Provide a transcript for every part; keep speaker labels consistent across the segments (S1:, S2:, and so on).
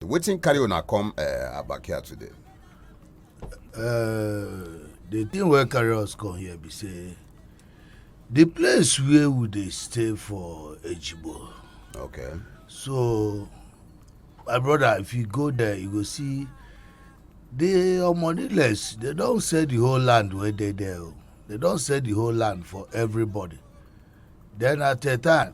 S1: wetin carry una come uh, abakia today. Uh,
S2: the thing wey carry us come here be say the place where we dey stay for ejibo okay
S1: so
S2: my brother if you go there you go see the omoniless they don sell the whole land wey dey there o oh. they don sell the whole land for everybody then at a time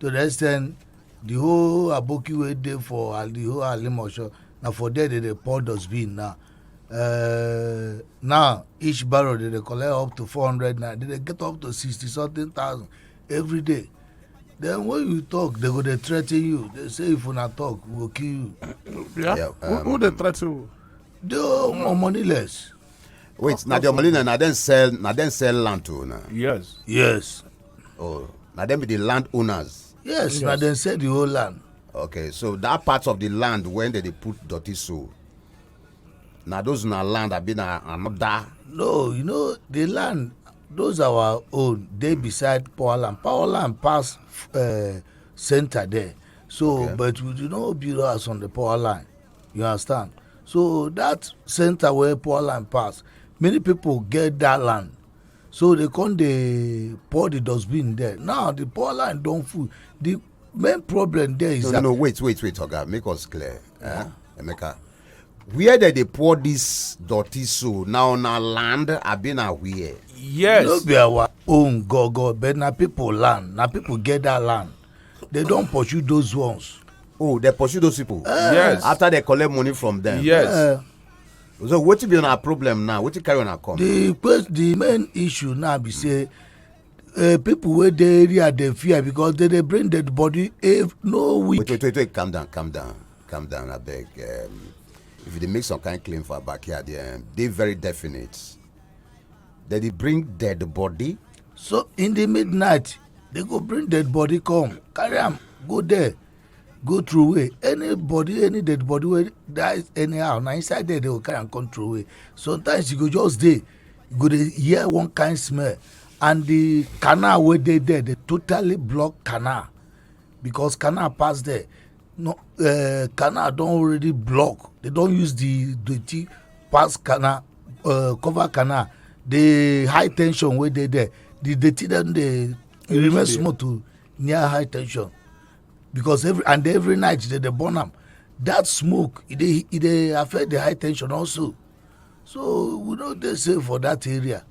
S2: to the extent the whole aboki wey dey for uh, the whole alimosho na for there they dey pour dustbin now uh, now each barrel they dey collect up to four hundred naira they dey get up to sixty something thousand every day then when you talk they go dey threaten you they say if una talk we go kill you. yeah, yeah
S3: um, who, who dey threaten you. the um,
S2: money less. wait na the
S1: omolina na dem sell na dem sell land to una. yes. yes.
S3: oh
S1: na dem be the land owners. yes, yes. na dem sell
S2: the whole land. okay so that
S1: part of the land wey dem dey put dirty so na those na land abi na another. no you know
S2: the land those our own dey beside power land power land pass uh, center there so okay. but we do not build house on the power line. you understand so that center where poor land pass many people get that land so they come dey pour the dustbin there now the poor land don full the main problem there is no, that no no wait wait wait oga
S1: make us clear eh? emeka where dem dey pour this dirty so na on our land abi na where. yes no be
S3: our
S2: own go go but na people land na people get that land they don pursue those ones. oh they pursue those
S1: people. Uh, yes after they
S3: collect money
S1: from them. yes.
S3: Uh, so wetin
S1: be una problem now wetin carry una come. the quest the main
S2: issue now be say uh, people wey dey area dey fear because they dey bring dead body if no week. wait wait wait wait calm down calm
S1: down calm down abeg um, if you dey make some kind claim for backyard um, dey very definite dem dey bring dead body. so in the
S2: midnight they go bring dead body come carry am go there go through way any body any dead body wey die anyhow na inside there they go carry am come through way sometimes you go just dey you go dey hear one kind smell and the canal wey dey there dey totally block canal because canal pass there no, uh, canal don already block they don use the dirty pass canal uh, cover canal the high tension wey dey there the dirty dem dey e remain small to near high tension because every and every night they dey burn am that smoke e dey e dey affect the high tension also so we no dey safe for that area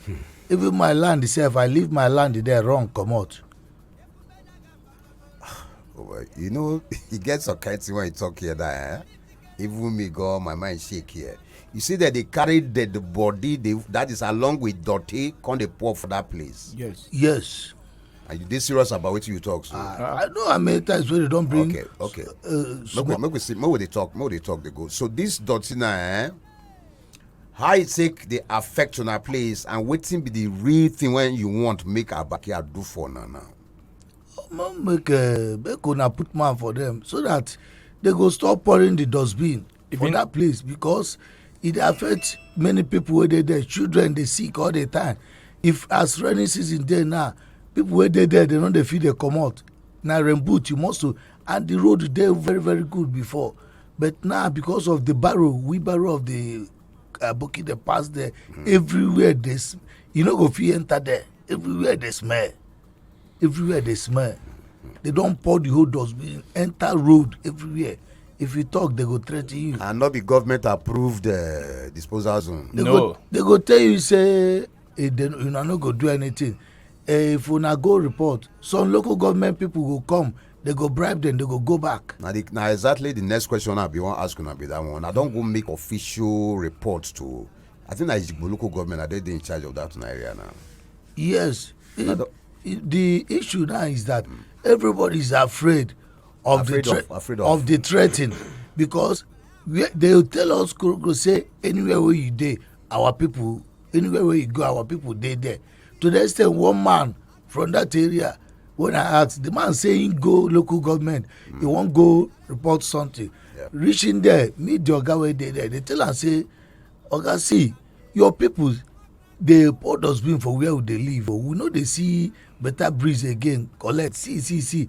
S2: hmm. even my land sef i leave my land there run comot
S1: Oh, you know, he gets a kind when he talk here that, eh? Even me go, my mind shake here. You see that they carry the, the body, they, that is along with dirty, come they pour for that place. Yes. Yes.
S2: Are you this
S1: serious about what you talk? So? Uh, I know how many times
S2: when they don't bring. Okay, okay. Uh,
S1: make, we, make we see. Make they talk. Make they talk. They go. So this dirty now, eh? how e take dey affect una place and wetin be the real thing wey you want make our backyard do for una now. Omo
S2: make uh, make una put man for them so that they go stop pouring the dustbin if for that place because it affects many people where they there children they sick all the time if as rainy season there now people where they there they know they feel they come out now rain boot you must to and the road there very very good before but now because of the barrow wheelbarrow of the uh, bucket they pass there mm. everywhere this you know go fit enter there everywhere dey smell everywhere dey smell they don pour the whole dustbin enter road everywhere if you talk they go threaten you. and no be government
S1: approved uh, disposal zone. They no go, they go
S2: tell you say hey, eh, una no go do anything uh, if una go report some local government people go come they go bribe them they go go back. na the na exactly the
S1: next question i bin wan ask una be that one i don go make official report to I think that Ijigbo local government, are they, they in charge of that area now? Yes.
S2: It, it, the issue now is that mm. everybody is afraid of afraid the of, afraid of. of the threatening because we, they tell us go say anywhere where you dey our people anywhere where you go our people dey there to the extent one man from that area when i ask the man say he go local government mm. he wan go report something yeah. reaching there meet the oga wey dey there they tell am say oga see your people dey pour dustbin for where we dey live o oh. we no dey see better breeze again collect see see see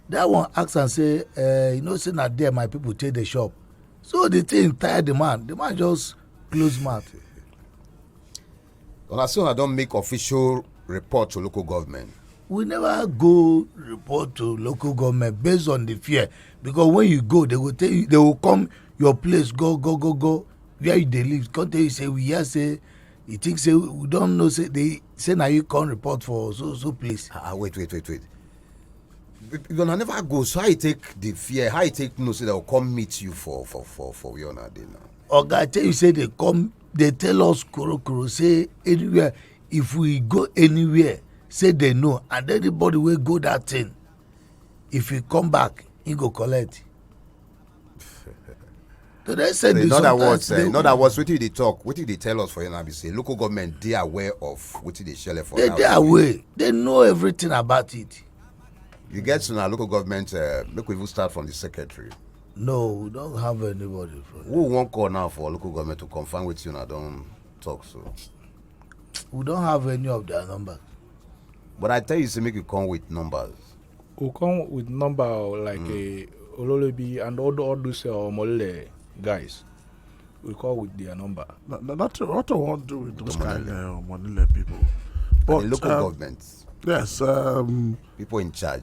S2: that one ask am say uh, you know say na there my people take dey shop so the thing tire the man the man just close mouth
S1: una say una don make official report to local government. we never
S2: go report to local government based on the fear because when you go they go tell you they go come your place go go go go where you dey live come tell you say we hear say you think say we don know say they say na you come report for so so place. ah, ah wait wait wait wait
S1: una never go so how you take the fear how you take know say they go come meet you for for for for where una dey now. oga tell you say
S2: they come dey tell us korokoro say anywhere if we go anywhere say they know and anybody wey go that thing if he come back he go collect to the extent they in other words eh, they, in
S1: other words wetin you dey talk wetin you dey tell us for here be say local government dey aware of wetin dey shele for they dey aware they
S2: know everything about it. you get
S1: to na local government uh, make we even start from the secretary no we
S2: don't have anybody for who wan call now for
S1: local government to confirm with you now? Don't talk so
S2: we don't have any of their numbers but i
S1: tell you say make you come with numbers we come
S3: with number like mm. a uh, ololobi and all, all those uh, omole guys we call with their number not not what i
S4: wan do with those kind of uh, omole people but local
S1: um, government yes um,
S4: people
S1: in charge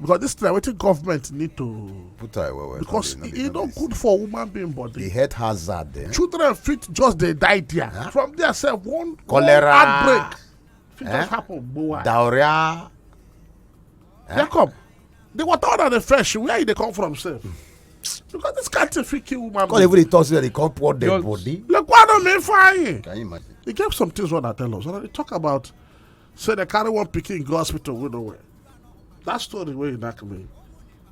S4: because this thing wetin government need to put eye well well because
S1: e no good
S4: for woman being body the health hazard
S1: eh? children fit just
S4: dey die there huh? from there sef one cholera one outbreak fit eh? just happen gbowa diarrhea eh? jacob the water wey dey fresh where e dey come from sef. Hmm. because this kind thing fit kill woman. call even the talk say they come
S1: pour dead body. lekwa no mean fine.
S4: can you imagine. e get
S1: some things wey una
S4: tell us una dey talk about say dem carry one pikin go hospital wey no well that story wey you knack me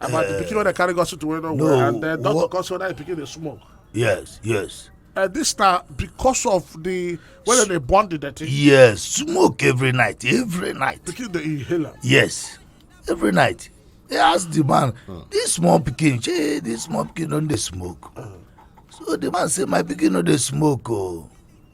S4: about the eh, pikin wey dem carry go hospital wey no well and then doctor come say whether the pikin dey smoke. yes
S2: yes. Uh, this
S4: na because of the whether they burn the dirty. yes smoke
S2: every night every night. pikin dey
S4: inhale am. yes
S2: every night they ask the man hmm. this small pikin shey this small pikin don dey smoke hmm. so the man say my pikin no dey smoke o oh.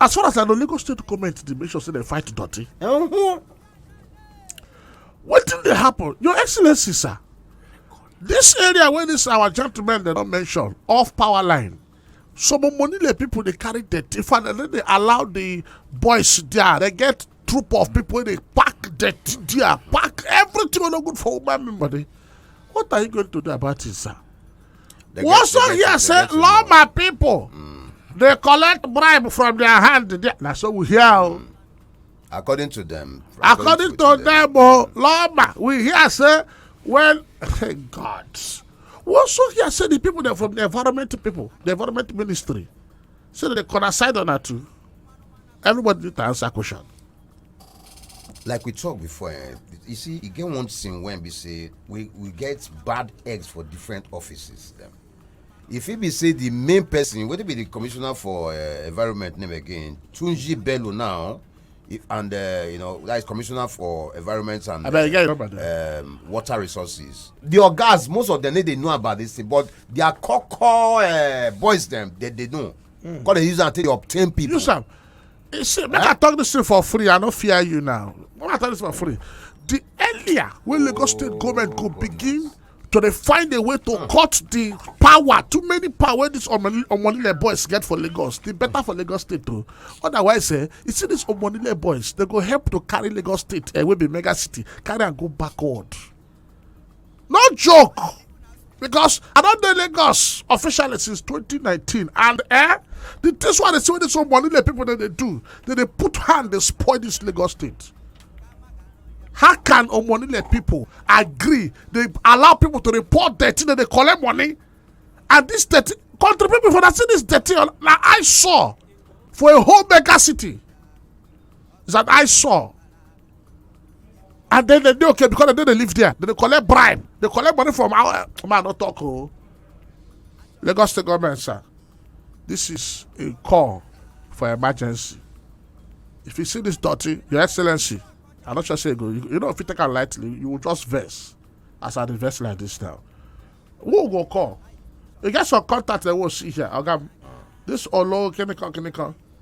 S4: as far as i know lagos state goment dey make sure say dem fight dirty uh-huh. wetin dey happen your excellency sir this area wey this our gentleman dem don mention off power line some omonile people dey carry dirty fan and then dey allow the boys there they get troop of people wey dey pack dirty there pack everything wey no good for woman body what are you going to do about it sir. They We get- also they get- hear they say get involved. lawma people dey collect bribe from their hand there. na so we hear o. according
S1: to them according to
S4: them o lawma we hear say when god we also hear say the people dem from the environment people the environment ministry say dem dey corner side una too. everybody need to answer question.
S1: like we talk before eh, you see you get one thing when we say we we get bad eggs for different offices Them. if it be say the main person whether be the commissioner for uh, environment name again tunji bello now if, and uh, you know that is commissioner for environment and uh, um, water resources the ogas most of them they know about this thing but their core core uh, boys them they, they know Mm. Come they use that to obtain people. Use them.
S4: You see, make I talk this thing for free. I don't fear you now. Make I talk this for free. The earlier when Lagos State government go begin to they find a way to mm. cut the power, too many power this Omonile boys get for Lagos, the better for Lagos State too. Otherwise, eh, you see these Omonile boys, they go help to carry Lagos State, eh, will be mega city, carry and go backward. no joke because i don dey lagos officially since 2019 and eh the things wey i dey see wey dey so money the people dey dey do dey dey put hand dey spoil this lagos state how can omonile people agree dey allow people to report dirty dey dey collect money and this dirty country people for na see this dirty on na i saw for a whole mega city is an i saw and then they dey okay because they dey live there they dey collect bribe they collect money from our uh, man no talk o oh. lagos state government sir this is a call for emergency if you see this dirty your excellency i no sure say you go you, you know if you take am lightly you will just vex as i dey vex like this now who go call you get some contact dem wey see here oga this olo kinikan kinikan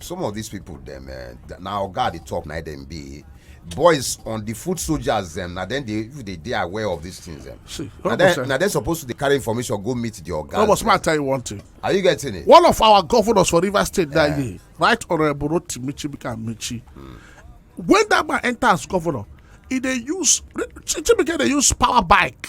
S1: some of dis pipo dem eh, na oga at di top na dem be boys on di foot soldiers dem na dem dey if dey dey aware of dis tins dem na dem
S4: suppose
S1: to dey carry information go meet di oga robert ma tell you one thing
S4: are you getting it one
S1: of our governors for
S4: rivers state dat eh. year right honourable rotimi chibika amechi hmm. when dat man enter as governor e dey use chibika dey use power bike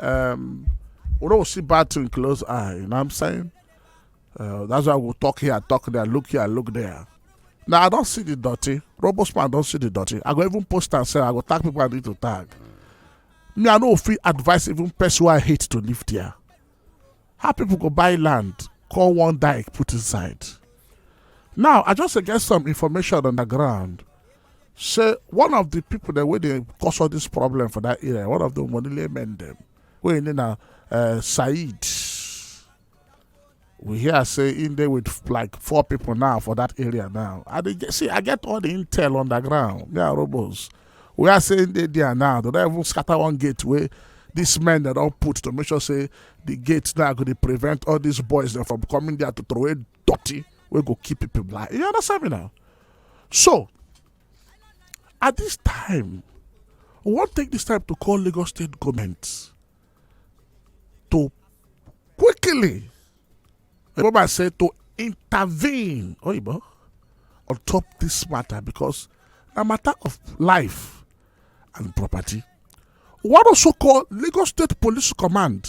S4: Um, we don't see bad thing close eye. You know what I'm saying? Uh, that's why we talk here, talk there, look here, look there. Now I don't see the dirty. Robosman don't see the dirty. I go even post and say I go tag people I need to tag. Me, I know free advice even person I hate to live there. How people go buy land, call one dike, put inside. Now I just get some information on the ground. say one of the people that wey dey cause all this problem for that area one of the monile men dem wey im name na uh, said we hear say im dey with like four people now for that area now i dey get see i get all the intel on the ground me and robos we are say im dey there now they don even scatter one gate wey these men dem don put to make sure say the gate now go dey prevent all these boys dem from coming there to throway dirty wey go keep people blind you understand me now so at this time we wan take this time to call lagos state goment to quickly remember i say to intervene oyibo on top this matter because na matter of life and property we wan also call lagos state police command